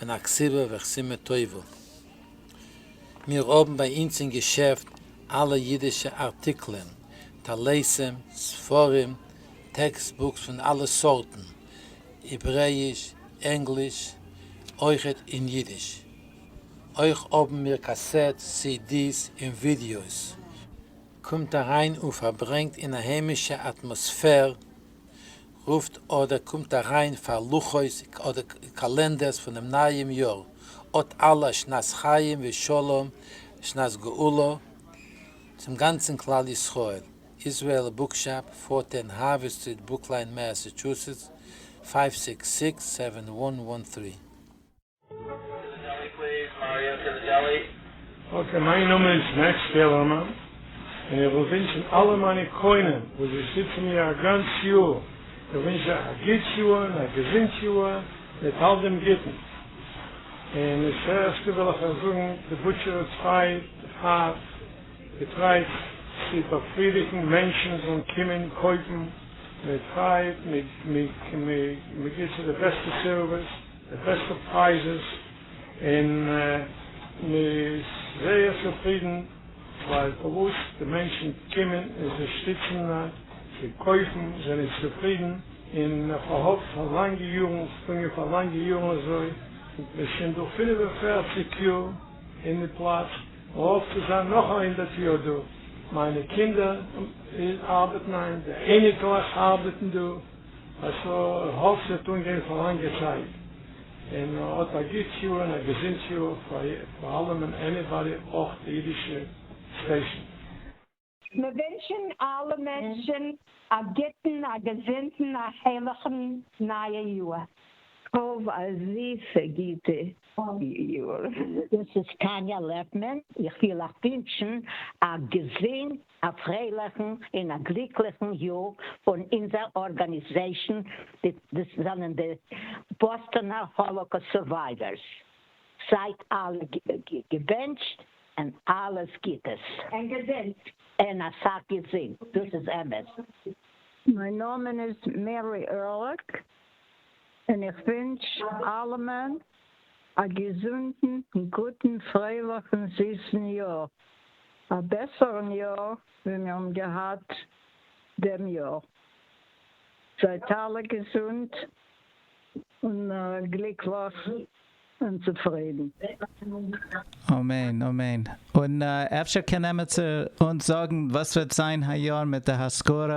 און א כסיבה וכסימה טובה. מיר האבן ביי אונז אין געשעפט אלע אידישע ארטיקלען, טליתים, ספרים, טעקסט בוקס פון אלע סארטן, העברעיש, ענגליש, אויכעט אין אידיש. אויך האבן מיר קאסעט סידיס און ווידיאוס. קומט אריין און פארברענגט אין א היימישע אטמאספער רופט אדער קומט אריין פאר לוחות אדער קאלענדערס פונעם נייעם יאר, אט אלע א שנת חיים ושלום שנת גאולה צום גאנצן כלל ישראל, איזרעאל בוקשאפ, פארטען האווי סטריט ברוקליין מעסעטשוסעטס, פייוו סיקס סיקס סעווען וואן וואן טרי. אקעי, מיין נאמען איז מעקס פעלערמאן, און איך וויל ווינטשן אלע מיינע קונים וואס זיי שטיצן מיר א גאנץ יאר, איך ווינטש זיי א גוט יאר און א געזונט יאר מיט אל דעם גוטן, און דאס העכסטע וויל איך אייך זאגן, די בוטשער איז פריי, הארט געטרייט צו באפרידיגן מענטשן זאלן קומען קויפן, מען טרייט, מען גיבט צו די בעסטע סערוויס. די בעסטע פרייזעס און מען איז זייער צופרידן ווייל פארוואס די מענטשן קומען און זיי שטיצן זיי קויפן זענען צופרידן און כהאב פאר לאנגע יארן געשטאנגען פאר לאנגע יארן אזוי און מען איז שוין דא פֿינף און פֿערציק יאר אין די פלאץ און האף צו זיין נאך א הונדערט יאר דא מיינע קינדער ארבעטן היינט די אייניקלעך ארבעטן דא. איך האף ס'וועט אנגיין פאר לאנגע צייט, און האט א גוטס יאר און א געזונטס יאר פאר אלעמען עניבאדי אויך די אידישע סטעישן. מיר ווינטשן אלע מענטשן א גוטן א געזונטן א הערליכן נייע יאר. האב א זיסע גוטע יאר. דאס איז טאניא לעפמאן, איך וויל אייך ווינטשן א געזונט א פרייליכן און א גליקליכן יאר פון אונזער ארגאניזעישאן, דאס זענען די באסטאנער האלאקאסט סורווייווערס, זייט אלע געבענטשט און אלעס גוטעס. און געזונט. און אסאך געזונט, דאס איז אמת. מיין נאמען איז מערי ערליך, און איך ווינטש אלעמען א געזונטן, גוטן, פרייליכן, זיסן יאר, א בעסערן יאר ווי מיר האבן געהאט דעם יאר, זייט אלע געזונט און גליקליך און צופרידן. אמן אמן. און אפשר קען עמיצער אונז זאגן וואס וועט זיין היי יאר מיט די השכרה?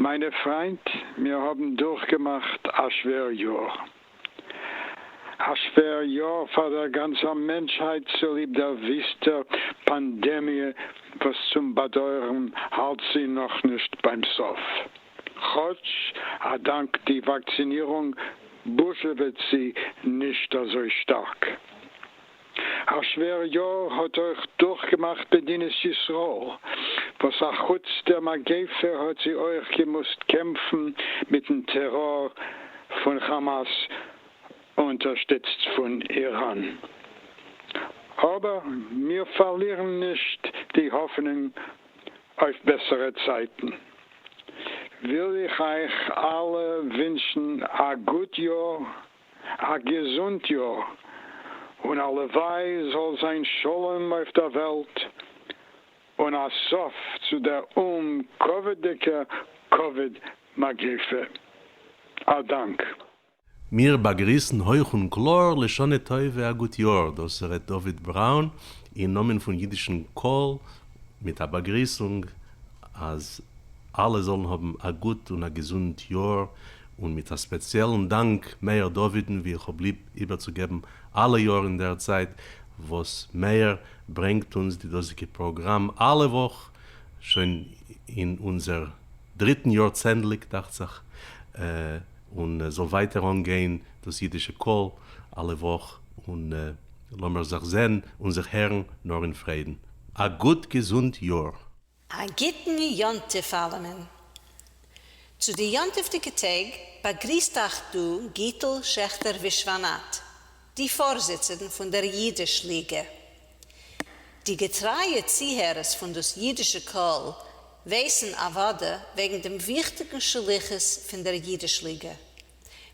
מיינע פריינט, מיר האבן דורכגעמאכט א שווער יאר. א שווער יאר פאר דער גאנצער מענטשהייט צוליב דער וויסטער פאנדעמיע וואס צום באדויערן האלט זי נאכנישט ביים סוף. כאטש א דאנק די וואקצינירונג בוזשעוועט זי נישט אזוי שטארק. א שווער יאר האט אויך דורכגעמאכט מדינת ישראל, וואס א חוץ דער מגיפה האט זי אויך געמוזט קעמפן מיטן טעראר פון כאמאס אונטערשטיצט פון איראן. אבער מיר פארלירן נישט די האפענונג אויף בעסערע צייטן, וויל איך אייך אלע ווינטשן א גוט יאר, א געזונט יאר, און הלוואי זאל זיין שלום אויף דער וועלט, און א סוף צו דער אומקאוויד'דיגע קאוויד מגיפה. א דאנק. מיר באגריסן הויך און קלאר לשנה טובה א גוט יאר, דאס ר' דוד בראון אין נאמען פון אידישן קול מיט א באגריסונג אז אלע זאלן האבן א גוט און א געזונט יאר, און מיט א ספעציעלן דאנק מאיר דוד'ן ווי איך האב ליב איבערצוגעבן אלע יאר אינדערצייט וואס מאיר ברענגט אונז די דאזיגע פראגראם אלע וואך שוין אין אונזער דריטן יאר צענדליג דאכצעך. און זאל ווייטער אנגיין דאס אידישע קול אלע וואך, און לאמיר זיך זען און זיך הערן נאר אין פרעדן. א גוט געזונט יאר! א גוטן יום טוב אלעמען! צו די יום טוב'דיגע טעג באגריסט אייך דא גיטל שעכטער ווישוואנאט. די פארזיצערן פון דער אידיש ליגע. די געטרייע צוהערערס פון דאס אידישע קול ווייסן אוודאי וועגן דעם וויכטיגן שליחות פון דער אידיש ליגע.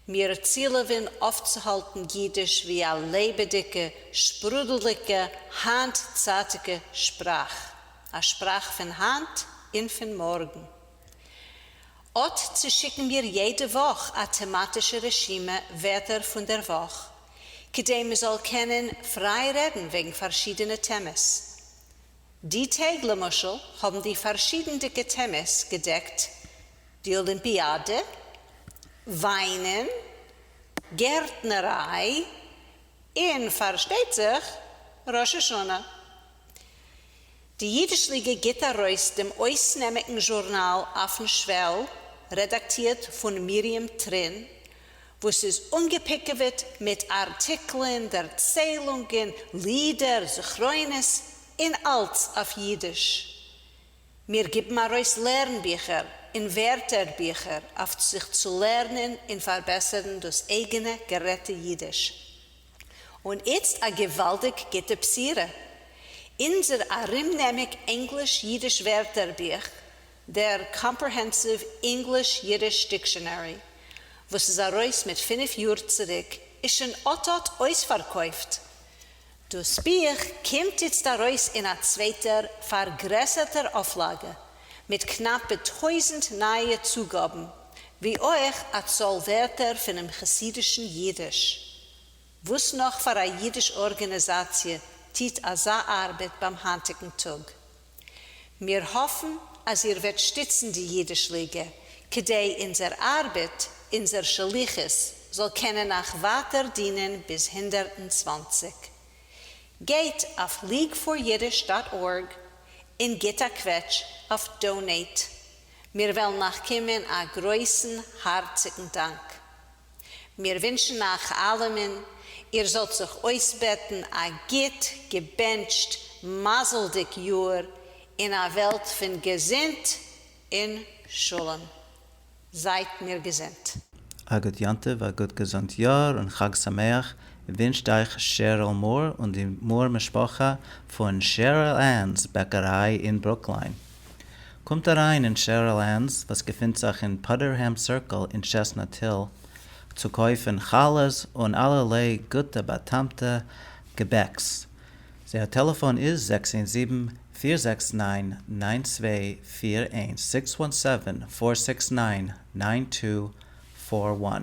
מיר צילעווען אויפצוהאלטן אידיש ווי א לעבעדיגע, שפרודלדיגע, היינט-צייטיגע שפראך, א שפראך פון היינט און פון מארגן. אט צושיקן מיר יעדע וואך א טעמאטישע רשימה ווערטער פון דער וואך, כדי מ'זאל קענען פריי רעדן וועגן פארשידענע טעמעס. די טעג למשל האבן די פארשידענדיגע טעמעס געדעקט די אולימפיאדע, וויינען, גערטנעריי, און פארשטייט זיך ראש השנה. די ייִדיש ליגע גיט אַרויס דעם אויסנעמיקן זשורנאַל אויפֿן שוועל, רעדאַקטירט פֿון מרים טרין, וואָס איז אָנגעפּיקעוועט מיט אַרטיקלען, דערציילונגען, לידער, זכרונות, און אַלץ אויף ייִדיש. מיר גיבן אַרויס לערנביכער און ווערטערביכער אויף זיך צו לערנען און פֿאַרבעסערן דאָס אייגענע גערעדטע ייִדיש. און איצט א געוואלדיג גוטע בשירה, אונזער ארומנעמיג ענגליש-אידיש ווערטער בוך, דער קאמפרעהענסיוו אינגליש-אידיש דיקשאנערי, וואס איז ארויס מיט פינף יאר צוריק, איז שוין אט אט אויספארקויפט! דאס בוך קומט איצט ארויס אין א צווייטער פארגרעסערטער אויפלאגע, מיט קנאפע טויזנט נייע צוגאבן, ווי אויך א צאל ווערטער פונעם חסידישן אידיש. וואס נאך פאר א אידיש ארגענעזאציע טוט אזא ארבעט ביים היינטיגן טאג? מיר האפן אז איר וועט שטיצן די אידיש ליגע כדי אונזער ארבעט, אונזער שליחות, זאל קענען אייך ווייטער דינען ביז הונדערט און צוואַנציק. גייט אויף leagueforyiddish דאט ארג און גיט א קוועטש אויף דאונעיט. מיר וועלן נאך קומען א גרויסן הארציגן דאנק. מיר ווינטשן אייך אלעמען איר זאלט זיך אויסבעטן א גוט געבענטשט מזל'דיג יאר אין א וועלט פון געזונט און שלום. זייט מיר געזונט. א גוט יום טוב, א גוט געזונט יאר און חג שמח ווינטשט אייך שעריל מאר און די מאר משפחה פון שעריל ענס בעקעריי אין ברוקליין. קומט אריין אין שערל ענס וואס געפינט זיך אין פאדערהעם סירקל אין טשעסנאט היל צו קויפן חלות און אלערליי גוטע באטעמטע געבעקס, זייער טעלעפאן איז זעקס איין זיבן פיר זעקס ניין ניין צוויי פיר איינס, סיקס וואן סעווען פאר סיקס ניין ניין טו פאר וואן,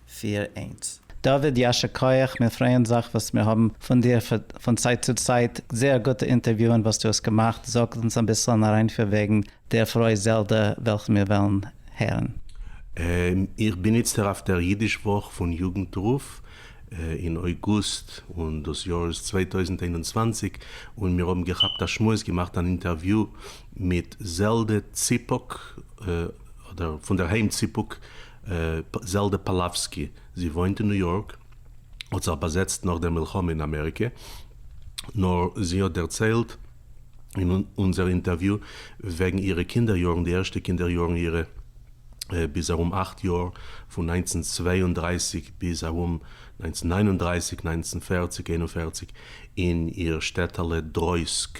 פיר איינס. דוד ישר כח מיר פרייען זיך וואס מיר האבן פון דיר פון צייט צו צייט זייער גוטע אינטערוויוען וואס דו האסט געמאכט זאג אונז אביסל אן אריינפיר וועגן דער פרוי זעלדע וועלכן מיר וועלן הערן. איך בין איצטער אויף דער אידיש וואך פון יוגנט רוף אין אויגוסט און דאס יאר איז צוויי טויזנט איין און צוואַנציק און מיר האבן געכאפט א שמועס געמאכט אן אינטערוויו מיט זעלדע ציפוק אדער פונדערהיים ציפוק זעלדע פאלאווסקי, זי וואוינט אין ניו יארק, האט זיך באזעצט נאך דער מלחמה אין אמעריקע, נאר זי האט דערציילט אין אונזער אינטערוויו וועגן אירע קינדער יארן, די ערשטע קינדער יארן אירע ביז ארום אכט יאר, פון נײַנצן צוויי און דרײַסיק ביז ארום נײַנצן נײַן און דרײַסיק, נײַנצן פֿערציק, איין און פֿערציק, אין איר שטעטעלע דרויסק,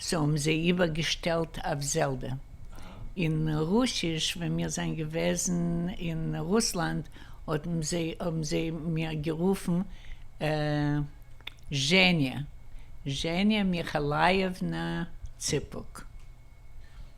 סאו האבן זיי איבער געשטעלט אויף זעלדע אין רוסיש, ווען מיר זענען געוועזן אין רוסלאנד האבן זיי מיר גערופן זשעניא זשעניא מיכאלייעוונא ציפוק.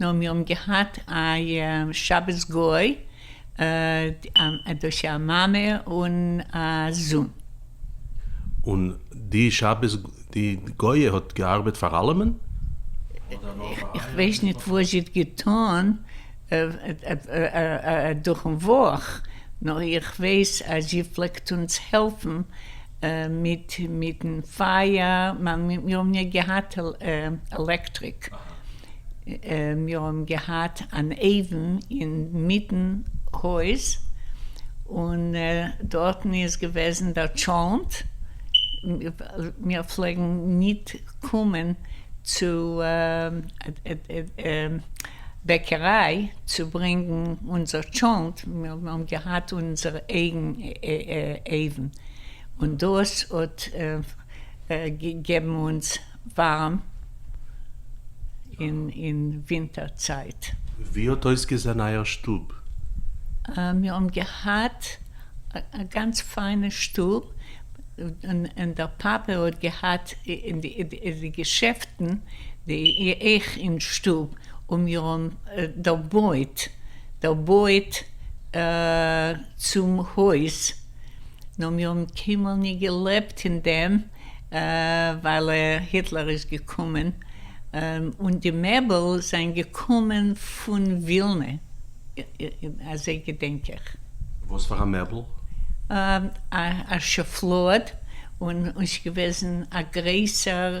נאר מיר האבן געהאט א שבת גוי, דאס איז א מאמע און א זון. און די שבת די גויע האט געארבעט פאר אלעמען? איך ווייס נישט וואס זי האט געטון דורכן וואך, נאר איך ווייס אז זי פלעגט אונז העלפן מיט מיטן פייער, מיר האבן נישט געהאט עלעקטריק, מיר האבן געהאט אן אויוון אינמיטן הויז, און דארטן איז געוועזן דער טשולנט, מיר פלעגן נישט קומען צו בעקעריי צו ברענגן אונזער טשולנט, מיר האבן געהאט אונזער אייגן אויוון. און דאס האט געגעבן אונז ווארעם אין ווינטער צייט. ווי האט אויסגעזען אייער שטוב? מיר האבן געהאט א גאנץ פיינע שטוב, און דער פאפע האט געהאט די געשעפטן אויך אין שטוב, און מיר האבן דערבויט צום הויז. נאר מיר האבן קיינמאל נישט געלעבט אין דעם ווייל היטלער איז געקומען און די מעבל זענען געקומען פון ווילנע, אזוי געדענק איך. וואס פאר א מעבל? א שופלאד און ס'איז געוועזן א גרעסער.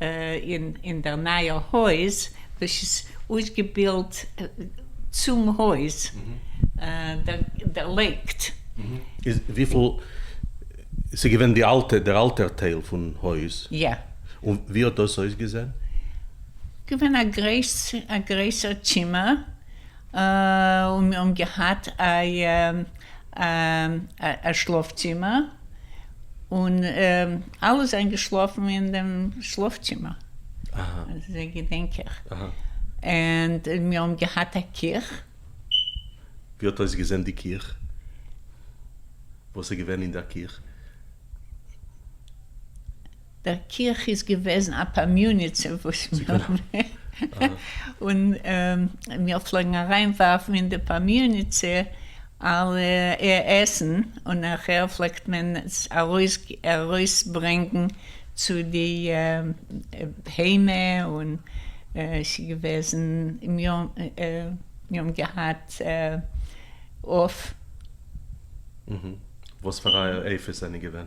אין דער נייער הויז וואס איז אויסגעבילט צום הויז דערלייגט. איז וויפיל ס'איז געווען די אלטע דער אלטער טייל פון הויז? יא. און ווי האט דאס אויסגעזען? געווען א גרויס א גרויסער צימער און מיר האבן געהאט א א שלאף צימער. און אלע זענען געשלאפן אין דעם שלאף צימער, אזוי געדענק איך, און מיר האבן געהאט א קיך. ווי האט אויסגעזען די קיך? וואס איז געווען אין דער קיך? דער קיך איז געוועזן א פאמיוניצע וואס און מיר פלעגן אריין ווארפן אין די פאמיוניצע אלע עסן און נאכער פלעגט מען עס ארויס ארויס ברענגן צו די בהמה און עס איז געוועזן מיר האבן געהאט עוף. וואס פאר אייער עיפות זענען געווען?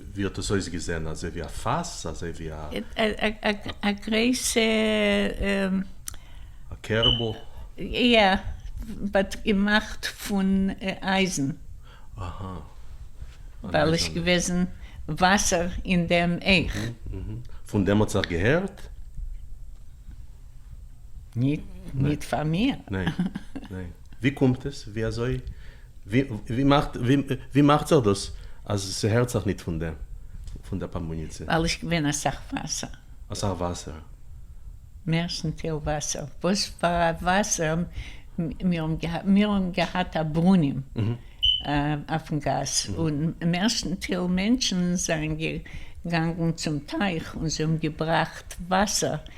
ווי האט עס אויסגעזען? אזוי ווי א פאס? אזוי ווי א. א גרויסע. א קערבל? יא, באט געמאכט פון אייזן. אהא. ווייל עס געוועזן וואסער אין דעם אויך. פון דעם האט זיך געהערט? ניט פאר מיר. ניין. ווי קומט עס? ווי אזוי? ווי מאכט ווי מאכט זיך דאס אז ס'הערט זיך ניט פון דעם פון דער פאמבאניצע? ווייל איך געווין א סך וואסער. א סך וואסער? מערסטנטיל וואסער. וואס פאר א וואסער? מיר האבן געהאט מיר האבן געהאט א ברונעם אויפן גאס, און מערסטנטיל מענטשן זענען געגאנגען צום טייך און זיי האבן געבראכט וואסער.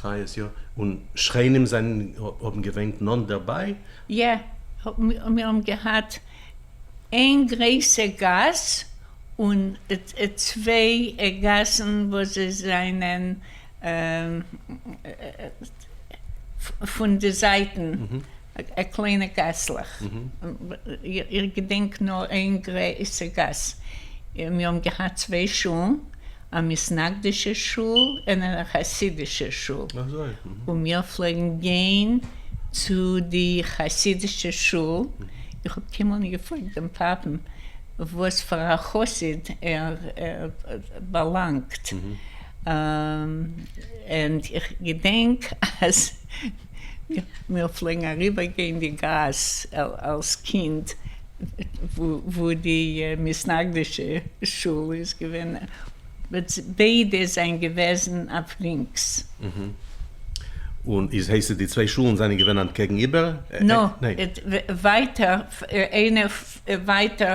חיות יא, און שכנים זענען האבן געוואינט נאנט דערביי? יא, מיר האבן געהאט איין גרעיסע גאס און צוויי גאסן וואס זיי זענען. פון די זייטן א קליינע גאסלעך, איך געדענק נאר איין גרויסע גאס, מיר האבן געהאט צוויי שולן, א מסנגדישע שול און א חסידישע שול, און מיר פלעגן גיין צו די חסידישע שול, איך האב קיינמאל נישט געפרעגט דעם פאפען וואס פאר א חסיד ער באלאנגט. און איך געדענק אז מיר פלעגן אריבער גיין די גאס אלס קינד וואו די מתנגדישע שול איז געווען, ביידע זענען געוועזן אויף לינקס. און איז הייסט עס די צוויי שולן זענען געווען אנטקעגן איבער? נאו, ווייטער, איינער ווייטער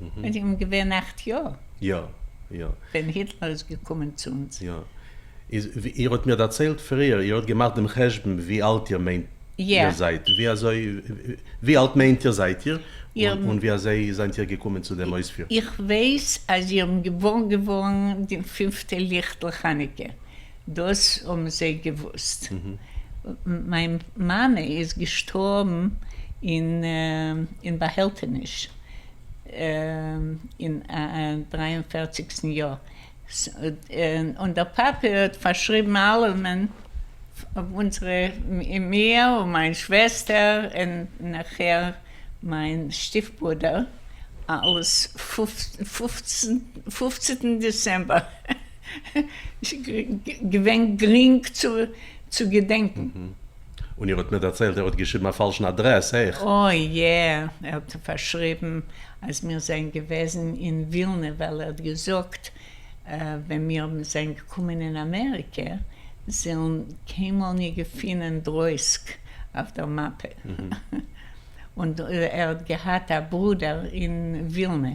און זיי האבן געווען אַכט יאר. יא. יא. ווען היטלער איז געקומען צו אונז. יא. איז ווי איר האט מיר דערציילט פריער, איר האט געמאכט דעם חשבון ווי אלט איר מיינט איר זייט, ווי אזוי, ווי אלט מיינט איר זייט איר, און ווי אזוי זענט איר געקומען צו דעם אויספיר? איך ווייס אז איר האבן געוואר געווארן די פינפטע ליכטל חנוכה דאס האבן זיי געוואוסט. מיין מאמע איז געשטארבן אין באהעלטעניש אין דרײַ און פֿערציק יאר, און דער פאפע האט פארשריבן אלעמען, אונזערע, מיר און מיין שוועסטער און נאכהער מיין שטיף ברודער, אלעס פֿופֿצן דעצעמבער. געווען גרינג צו געדענקן. און איר האט מיר דערציילט ער האט געשריבן א פאלשן אדרעס אויך. אוי יע, ער האט פארשריבן אז מיר זענען געוועזן אין ווילנע ווייל ער האט געזאגט ווען מיר זענען געקומען אין אמעריקע זעלן קיינמאל ניט געפינען דרויסק אויף דער מאפע און ער האט געהאט א ברודער אין ווילנע.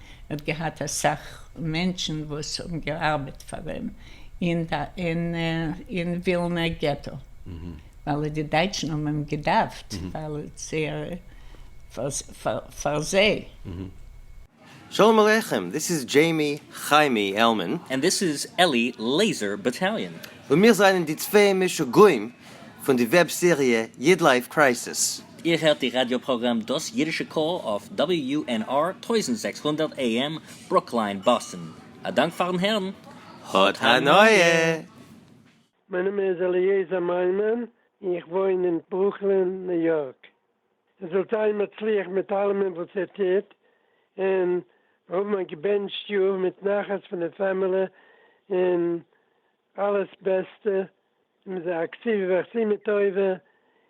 ער האט געהאט אסאך מענטשן וואס האבן געארבעט פאר אים אין ווילנע געטא, ווייל די דייטשן האבן אים געדארפט פאר זיי. שלום עליכם, דיס איז דזשעימי חיימי עלמען. ענד דיס איז עלי לעיזער באטאליאן. און מיר זענען די צוויי משוגעים פון די וועב סעריע איד לייף קרייסיס. איר הערט די ראדיא פראגראם דאס אידישע קול אויף WUNR טויזנט זעקס הונדערט AM ברוקליין באסטן. א דאנק פארן הערן. האט הנאה! מיין נאמען איז אליעזר מיימון און איך וואוין אין ברוקלין ניו יארק. איר זאלט זיין מצליח מיט אלעמען וואס איר טוט און האבן א געבענטשט יאר מיט נחת פון די פעמילי און אלעס בעסטע און זיי אקטיוו ועשי מה טובה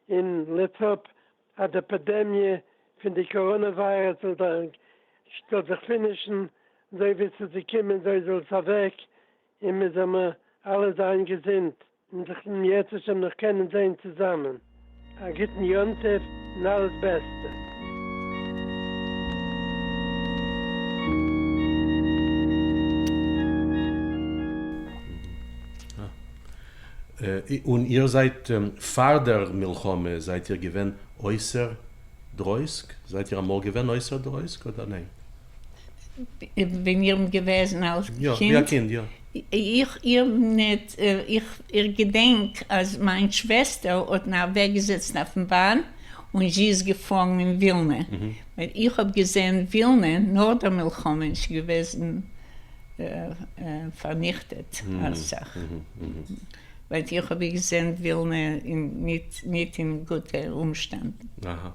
און לעטס האפ אז די פעדעמיע פון די קאראנע וויירוס זאל זיך זאל זיך פינישן אזוי ווי עס איז געקומען אזוי זאל עס אוועק און מען זאל מיר אלע זיין געזונט און זיך יעצט שוין נאך קענען זעהן צוזאמען. א גוטן יום טוב און אלעס בעסטע. און איר זייט פאר דער מלחמה זייט איר געווען אויסער דרויסק? זייט איר אמאל געווען אויסער דרויסק אדער ניין? ווען איר ביט געוועזן אלס קינד, איך געדענק אז מיין שוועסטער האט אין אוועק געזעצן אויפן באן און זי איז געפארן אין ווילנע, ווייל איך האב געזען ווילנע נאך דער מלחמה איז שוין געוועזן פארניכטעט אסאך. ווייט איך האב געזען ווילנע אין ניט אין גוטע אומשטענדן. אהא.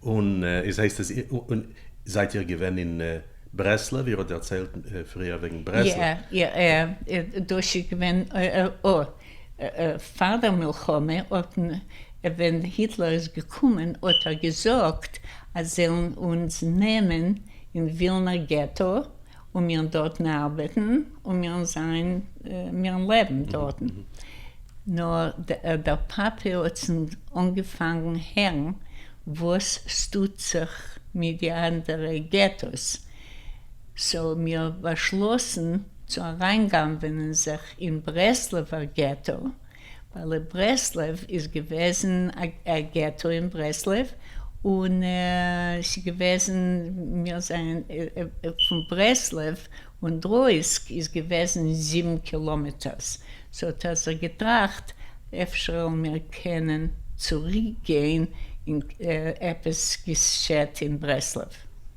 און איז הייסט עס און זייט איר געווען אין ברסלב? איר האט דערציילט פריער וועגן ברסלב. יא יא דאס איז געווען פאר דער מלחמה האטן ווען היטלער איז געקומען האט ער געזאגט אז זעלן אונז נעמען אין ווילנער געטא און מירן דאָרטן אַרבעטן, און מירן זײַן, מירן לעבן דאָרטן. נאָר דער פּאַפּיר האָט צונד אָנגעפֿאַנגן הערן, װאָס ס'טוט זיך מיט די אַנדערע געטאָס. ס'האָבן מיר באַשלאָסן צו אַרײַנגנבֿענען זיך אין ברעסלעװער געטאָ, ווייל ברסלב איז געוועזן א געטא אין ברסלב און ס'געוועזן מיר זענען פון ברסלב און דרויסק איז געוועזן זיבן קילאמעטערס סאו האט ער זיך געטראכט אפשר וועלן מיר קענען צוריק גיין אין עפעס געשעט אין ברסלב.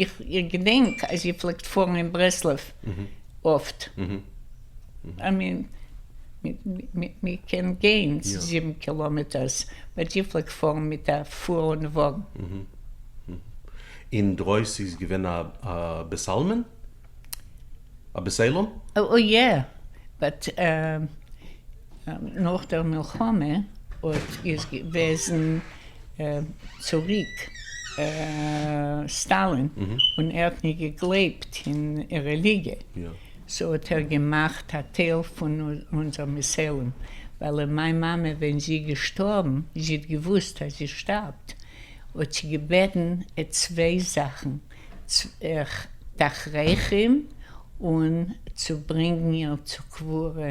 איך געדענק אז איר פלעגט פארן אין ברסלב אפט, איי מין מען קען גיין זיבן קילאמעטערס, באט איר פלעגט פארן מיט א פולן וואגן. אין דרויסן איז געווען א בעסעלמען? א בעסעלום? אוי יא, באט נאך דער מלחמה אויב איז געוועזן צוריק סטאלין און ער האט נישט געגלייבט אין רעליגיע סאו האט ער געמאכט א טייל פון אונזער מיסעלען ווייל מיין מאמע ווען זי איז געשטארבן זי האט געוואוסט אז זי שטארבט האט זי געבעטן צוויי זאכן תכריכים און צו ברענגן איר צו קבורה.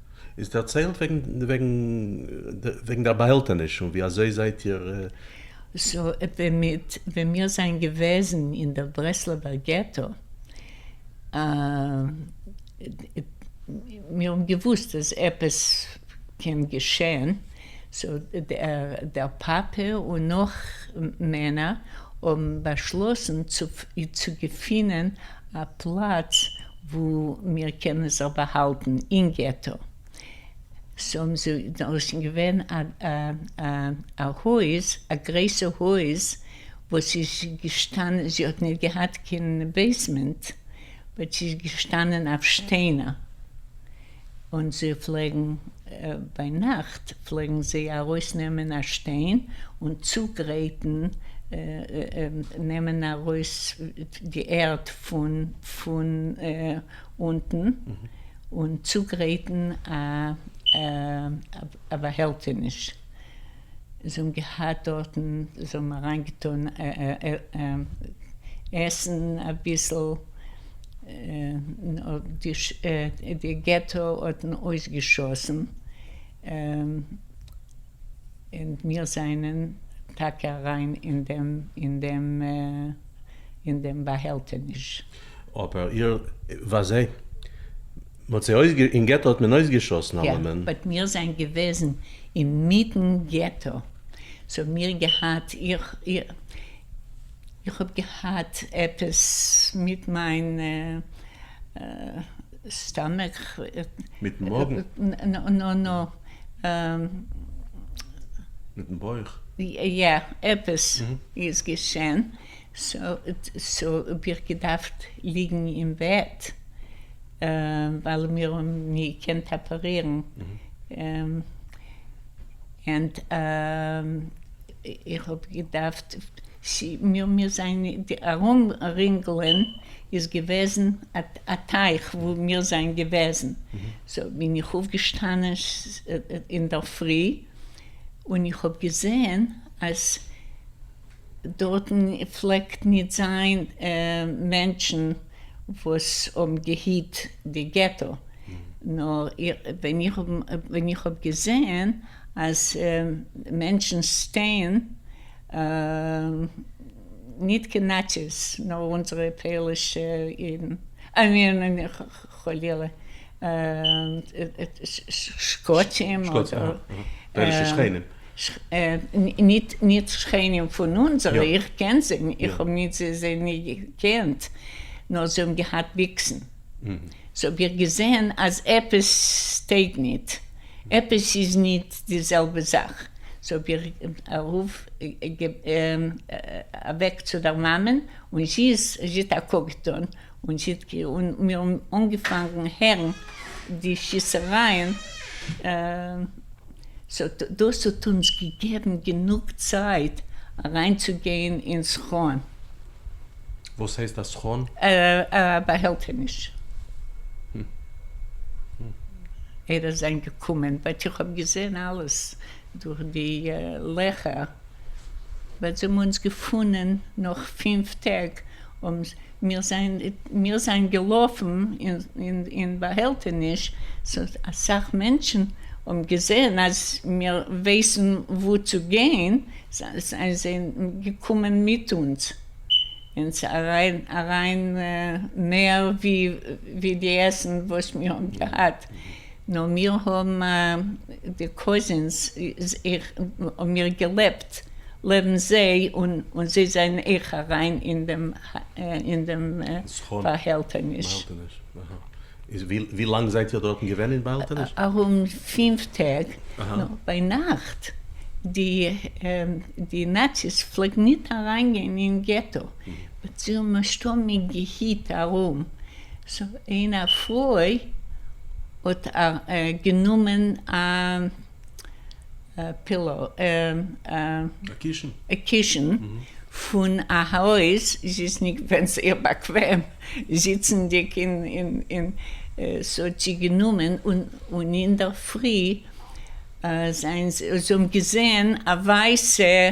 איז דערציילט וועגן וועגן וועגן דער באהעלטעניש און ווי אזוי זייט איר. סאו ווען מיט ווען מיר זענען געוועזן אין דער ברסלב'ער געטא מיר האבן געוואוסט אז עפעס קען געשען סאו דער פאפע און נאך מענער האבן באשלאסן צו צו געפינען א פלאץ וואו מיר קענען זיך באהאלטן אין געטא, סאו דאס איז געווען א הויז, א גרויסע הויז וואס איז געשטאנען, זי האט נישט געהאט קיין בעיסמענט, באט זי איז געשטאנען אויף שטיינער. און זיי פלעגן ביינאכט פלעגן זיי ארויסנעמען א שטיין און צוגרייטן נעמען ארויס די ערד פון פון אונטן און צוגרייטן א באהעלטעניש. זיי האבן געהאט דארטן, זיי האבן אריין געטון עסן אביסל, די געטא האט אויסגעשאסן, און מיר זענען טאקע אריין אין דעם באהעלטעניש. אבער איר ווייזט זיי. מ'האט זיי אויס גע. אין געטא האט מען אויס געשאסן אלעמען. באט מיר זענען געוועזן אין מיטן געטא סאו מיר געהאט איך איך האב געהאט עפעס מיט מיין סטאמעך. מיטן מאגן? נא נא נא. מיטן בויך? יא עפעס איז געשען סאו האב איך געדארפט ליגן אין בעט ווייל מיר האבן נישט געקענט אפערירן, ענד איך האב געדארפט, מיר זענען די ארום רינגלען איז געוועזן א טייך וואו מיר זענען געוועזן, סאו בין איך אויפגעשטאנען אינדערפרי און איך האב געזעהן אז. דארטן פלעגט ניט זיין מענטשן וואס האבן געהיט די געטא, נאר ווען איך האב ווען איך האב געזען אז מענטשן סטען ניט קיין נאציס נאר אונזערע פעלישע אידן, חלילה, שקצים אדער. בערישע שכנים. נישט שכנים פון אונזערע, איך קען זיי נישט, איך האב נישט זיי נישט געקענט, נאר זיי האבן געהאט ביקסן. סאו האב איך געזען אז עפעס טויג נישט, עפעס איז נישט די זעלבע זאך. סאו האב איך א רוף אוועק צו דער מאמען, און זי האט א קוק געטון, און שיטקע און מיר האבן אנגעפאנגן הערן די שיסערייען, סאו דאס האט אונז געגעבן גענוג צייט אריינצוגיין אין סכון. וואס הייסט א סכון? א באהעלטעניש. ער איז זיין געקומען באט איך האב געזען אלעס דורך די לעכער, באט זיי האבן אונז געפונען נאך פֿינף טעג האבן. מיר זענען געלאפן אין באהעלטעניש, סאיז אסאך מענטשן האבן געזען אז מיר ווייסן וואו צו גיין, זענען זיי געקומען מיט אונז אונז אריין מער ווי די עסן וואס מיר האבן געהאט, נאר מיר האבן די קאזינס איך האב מיר געלעבט לעבן זיי און און זיי זענען איך אריין אין דעם אין דעם באהעלטעניש. ווי לאנג זייט איר דארטן געווען אין באהעלטעניש? ארום פֿינף טעג, נאר ביינאכט די די נאציס פלעגן ניט אריינגיין אין געטא, זיי האבן נישטא מיר געהיט ארום. סא אין א פרוי האט גענומען א פילאו א קישן פון א הויז זי איז נישט געווען זייער באקוועם זיצענדיג אין סא האט זי גענומען און אינדערפרי זענען זיי זיי האבן געזעהן א ווייסע.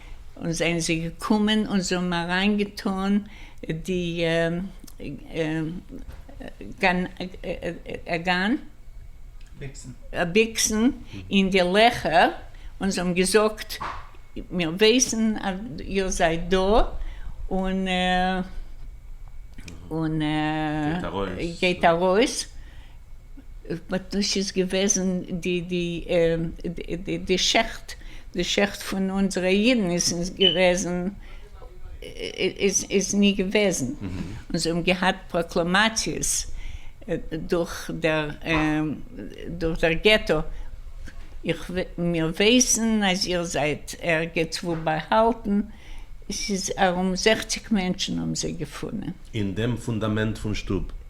און זענען זיי געקומען און זיי האבן אריין געטאן די גאן, ביקסן, אין די לעכער, און זיי האבן געזאגט, מיר ווייסן אז איר זייט דא, און גייט ארויס. באט דאס איז געוועזן די די די די שעכט די שעכט פון אונזערע אידן איז איז געוועזן איז איז ני געוועזן און זיי האבן געהאט פראקלאמאציעס דורך דער דורך דער געטא איך מיר ווייסן אז איר זייט ערגעץ וואו באהאלטן עס איז ארום זעכציק מענטשן האבן זיי געפונען. אין דעם פונדאמענט פון שטוב.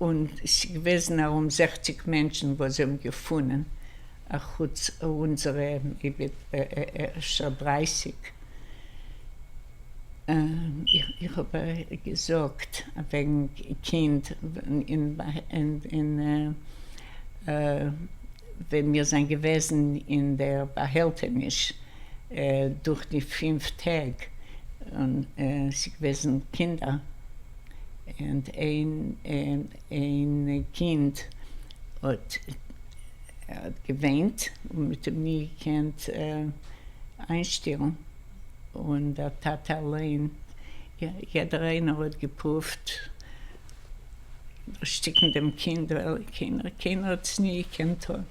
און ס'געוועזן ארום זעכציק מענטשן וואס זיי האבן געפונען, אחוץ אונזערע אפשר דרייסיג. איך האב געזאגט וועגן קינד און ווען מיר זענען געוועזן אין דער באהעלטעניש. דורך די פֿינף טעג און ס'געוועזן קינדער און איין קינד האט געוויינט און מ'האט אים ני געקענט איינשטילן און דער טאטע אליין יעדער איינער האט געפרואווט דערשטיקן דעם קינד ווייל קיינער האט עס ני געקענט טון.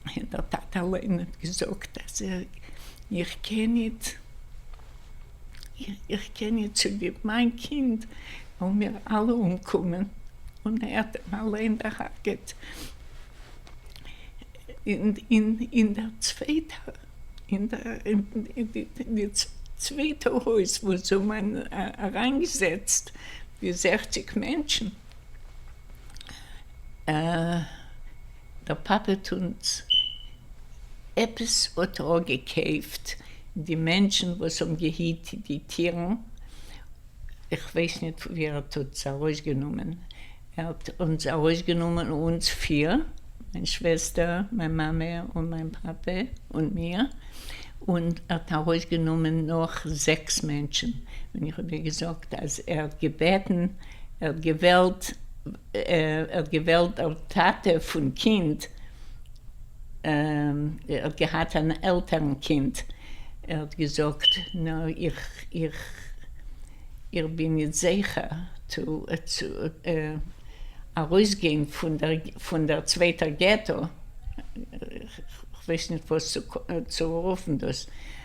און דער טאטע אליין האט געזאגט אז איך קען ניט איך קען ניט צוליב מיין קינד וועלן מיר אלע אומקומען און ער האט אים אליין דערהארגעט אין דער צווייטער אין די צווייטע הויז וואו זיי האבן אריינגעזעצט די זעכציק מענטשן. דער פאפעט אונז עפעס האט ער געקעיפט די מענטשן וואס האבן געהיט די טירן כ'ווייס ניט פון ווי ער האט אונז ארויסגענומען ער האט אונז ארויסגענומען אונז פיר מיין שוועסטער מיין מאמע און מיין פאפע און מיר און ער האט ארויסגענומען נאך זעקס מענטשן און איך האב דיר געזאגט אז ער האט געבעטן ער האט געוועלט ער האט געוועלט דער טאטע פון קינד ער האט געהאט אן עלטערן קינד ער האט געזאגט נא איך איך איך בין ניט זעכער צו צו ארויסגיין פון דער פון דער צווייטער געטא איך ווייס ניט וואס צו צו רופן דאס.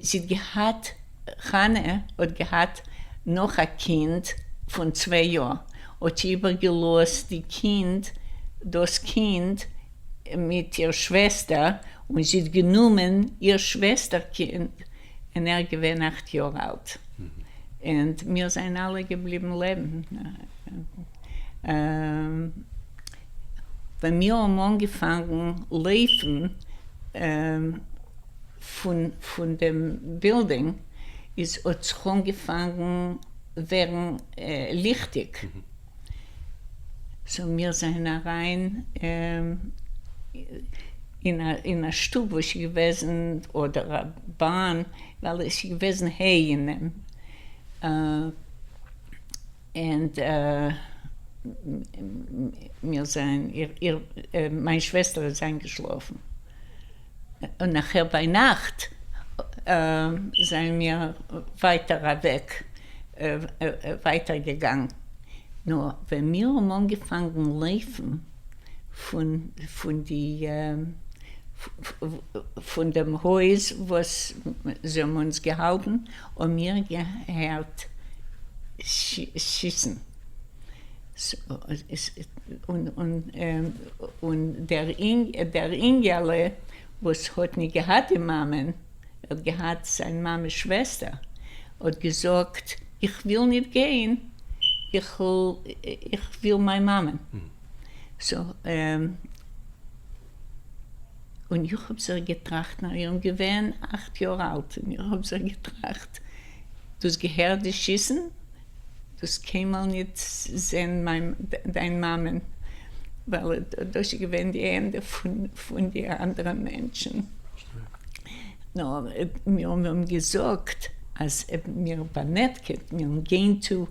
זי האט געהאט, חנה האט געהאט נאך א קינד פון צוויי יאר, האט זי איבער געלאזט די קינד, דאס קינד מיט איר שוועסטער, און זי האט גענומען איר שוועסטער קינד אין ער געווען אכט יאר אלט, אין מיר זענען אלע געבליבן לעבן. ווען מיר האבן אנגעפאנגן לויפן פון דעם בילדינג איז האט זיך אנגעפאנגן ווערן ליכטיג, סאו מיר זענען אריין אין א שטוב וואס איז געוועזן אדער א באן ווייל עס איז געוועזן ה' אין אים. ענד מיר זענען, מיין שוועסטער איז איינגעשלאפן, און נאכער ביינאכט זענען מיר ווייטער אוועק, ווייטער געגאנגען, נאר ווען מיר האבן אנגעפאנגען לויפן פון די, פון דעם הויז וואס זיי האבן אונז געהאלטן, און מיר געהערט שיסן, און דער אינגעלע וואס האט ניט געהאט די מאמען, ער האט געהאט זיין מאמעס שוועסטער, האט געזאגט, איך וויל ניט גיין, איך וויל מיין מאמען. און איך האָב זיך געטראַכט, נאַר איך בין געווען אַכט יאָר אַלט, און איך האָב זיך געטראַכט, דאָס געהערט די שיסן, דאָס קיינמאָל ניט זען מײַן, דײַן מאַמען, ווײַל דאָס איז געווען די ענדע פֿון, פֿון די אַנדערע מענטשן. נאָר מיר האָבן געזאָגט, אַז מיר באַנעטקעט, מיר גייען צו.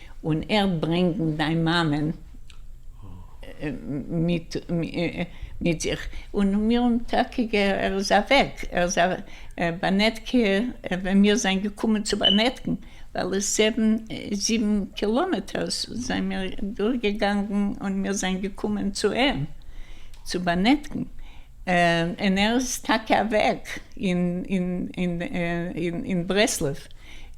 און ער'ט ברענגן דיין מאמען מיט זיך. און מיר האבן טאקע גע. ער איז אוועק. ער איז א באנעטקע. ווען מיר זענען געקומען צו באנעטקן, ווייל עס זעווען זיבן קילאמעטערס, זענען מיר דורכגעגאנגען און מיר זענען געקומען צו אים צו באנעטקן. און ער איז טאקע אוועק אין ברסלב.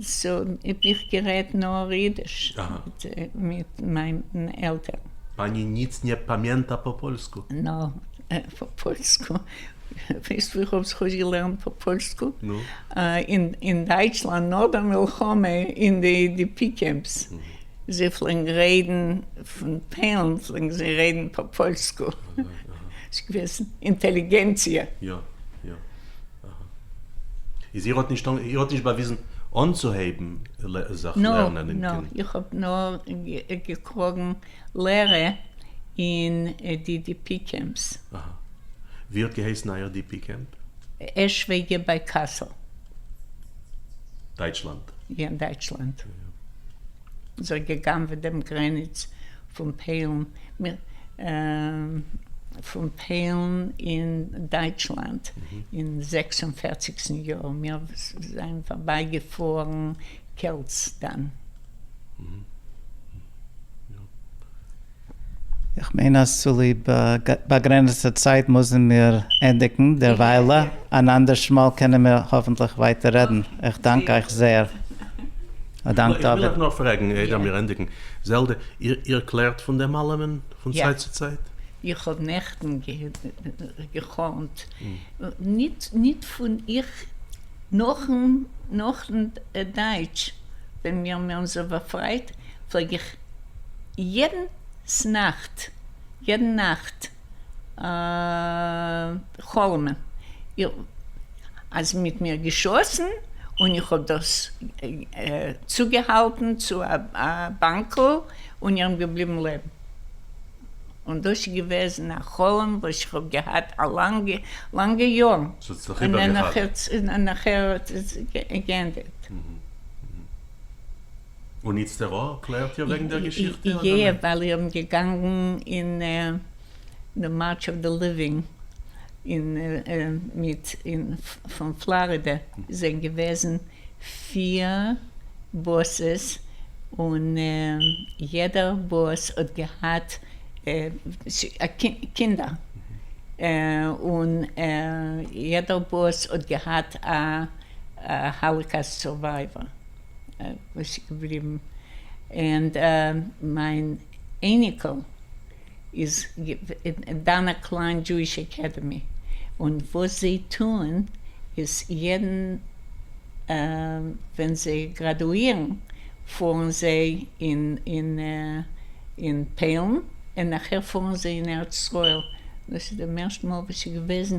סאו איך גערעדט נאר אידיש מיט מיין עלטערן. פאני ניצט נע פאמיענטא פא פאלסקו? נא, פא פאלסקו, ווייסט ווי איך האב זיך אויסגעלערנט פא פאלסקו? נו? אין דייטשלאנד נאך דער מלחמה אין די די פי קעמפס, זיי פלעגן רעדן פון טיילן פלעגן זיי רעדן פא פאלסקו, ס'איז געוועזן אינטעליגענציע. יא יא. איז איר האט נישט איר האט נישט באוויזן אנצוהייבן זיך לערנען אין קנ י? נאר, איך האב נאר געקראגן לערע אין די די פי קעמפס. אהא. ווי האט געהייסן אייער די פי קעמפ? עשוועגער ביי קאסל. דייטשלאנד. יא, דייטשלאנד. זיי געגנב'עט דעם גרעניץ. פון פעלן פון פעלן אין דייטשלאנד אין זעקס און פערציגסטן יאר, מיר זענען פארביי געפארן קעלצדאן. איך מיין אז צוליב באגרענעצטע צייט מוזן מיר ענדיגן דערוויילע, אן אנדערש מאל קענען מיר האפנטליך ווייטער רעדן, איך דאנק אייך זעהר. א דאנק דוד. איך וויל אייך נאר פרעגן איידער מיר ענדיגן, זעלדע, איר קלערט פון דעם אלעמען פון צייט צו צייט? איך האב נעכטן געחלמט, ניט פון איך, נאכן דייטש ווען מיר מיר אונזער באפרייט, פלעג איך יעדנס נאכט, יעדן נאכט, חלום איך אז מיט מיר געשאסן און איך האב דאס צוגעהאלטן צו א באנקל און איך בין געבליבן לעבן און דאס איז געוועזן א חלום וואס איך האב געהאט א לאנגע לאנגע יארן און נאכער האט זיך געענדערט. און איצטערא קלערט איר וועגן דער געשיכטע אדער נע? יע, ווייל איר געגאנגן אין די מארטש אוו די ליווינג אין מיט אין פון פלארידע זענען געוועזן פיר באסעס און יעדער באס האט געהאט קינדער און יעדער באס האט געהאט א האליקאסט סורווייווער. וואס איז געבליבן און מיין אייניקעל איז דאן א קליין דזשואיש אקעדעמי און וואס זיי טוען איז יעדן ווען זיי גראדואירן פארן זיי אין אין פעלן און נאכער פארן זיי אין ארץ ישראל דאס איז די מערסטע מאל וואס איז געוועזן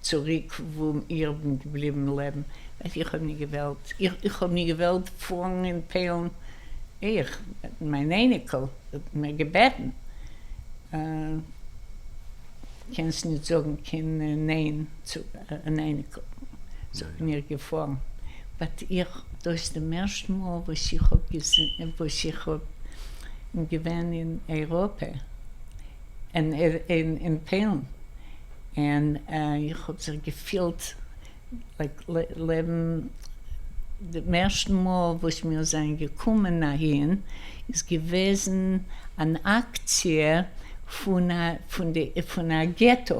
צוריק וואו איר בין געבליבן לעבן. איך האב ניט געוועלט. איך האב ניט געוועלט פארן אין פעלן. איך, מיין אייניקל, האט מיר געבעטן. קענסט ניט זאגן קיין ניין צו אן אייניקל. זענען מיר געפארן. באט איך, דאס די מערסטע מאל וואס איך האב געזען, וואס איך האב געווען אין אייראפע. און אין פעלן און איך האב זיך געפילט לייק לעבן דעם ערשטן מאל וואס מיר זענען געקומען אהין איז געוועזן אן אקציע פון א פון די פון א געטא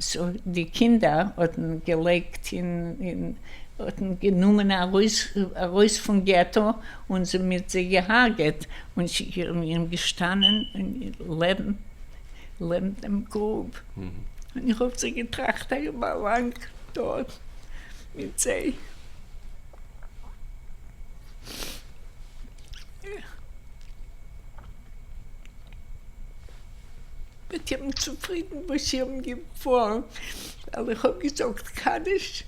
סאו די קינדער האטן געלייגט אין האטן גענומען ארויס ארויס פון געטא און זי מיט זיי געהארגעט, און זי איז מיט אים געשטאנען לעבן דעם גרוב, און איך האב זיך געטראכט איך באלאנג דארט מיט זיי. איך בין צופרידן וואס איר האבן געפועלן ווייל איך האב געזאגט קדיש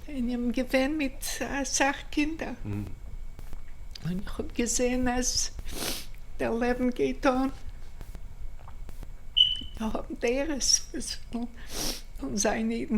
און איך בין געווען מיט אסאך קינדער און איך האב געזעהן אז דער לעבן גייט אן, מיר האבן דורות וואס ווילן זיין אידן.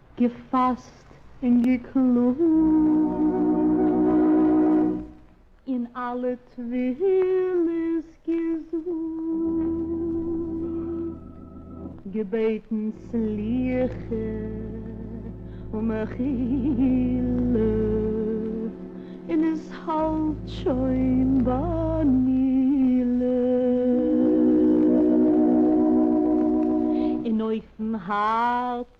געפֿאַסט און געקלאָגט און אַלע תּפֿילות געזאָגט, געבעטן סליחה און מחילה, און עס האַלט שױן בײַ מילא. און אױפֿן האַרץ